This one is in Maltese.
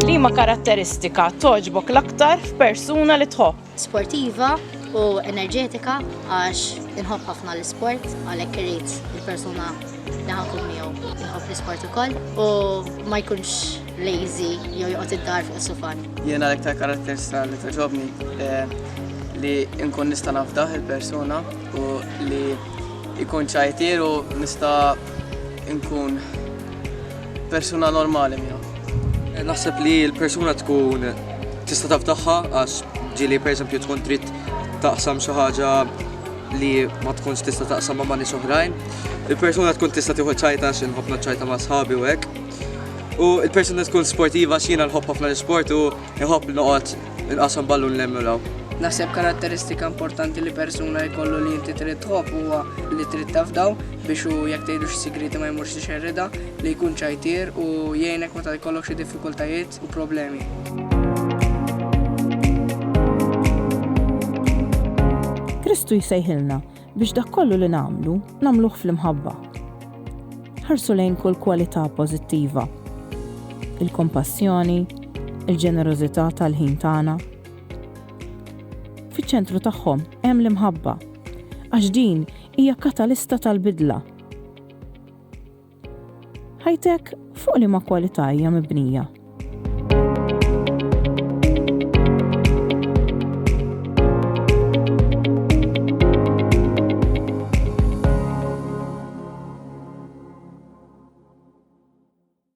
Liema karatteristika toġbok l-aktar f'persuna li tħobb? Sportiva u enerġetika għax inħobb ħafna l-isport għalhekk irid il-persuna Nħobb ikun miegħu, nħobb l-isport ukoll u ma jkunx lazy jew joqgħod id-dar fuq is-sufan. Jiena l-iktar karatteristika li toġobni eh, li nkun nista' nafdaħ il-persuna u li jkun ċajtier u nista' nkun persuna normali miegħu. Eh, naħseb li l-persuna tkun tista' tafdaħħa għax ġili pereżempju tkun trid taqsam xi ħaġa li ma tkunx tista' taqsam ma' nies oħrajn. Il-persuna tkun tista' tieħu ċajta xi nħobb naċċajta ma' sħabi u hekk. U il-persuna tkun sportiva x'jiena nħobb ħafna l-isport u nħobb noqgħod inqasam ballun l-emmulaw. Naħseb karatteristika importanti li persuna jkollu li inti trid tħobb huwa li trid tafdaw biex u jekk tgħidu xi sigriti ma jmurx ixerrida, li jkun ċajtier u jgħinek meta jkollok xi diffikultajiet. u problemi. Kristu jsejħilna biex dak kollu li nagħmlu, nagħmluh fl-imħabba. Ħarsu lejn kull kwalità pożittiva. Il-kompassjoni, il-ġenerożità tal-ħin tagħna. Fiċ-ċentru tagħhom hemm l-imħabba, għax din hija katalista tal-bidla Ħajtek fuq li ma kwalità hija mibnija?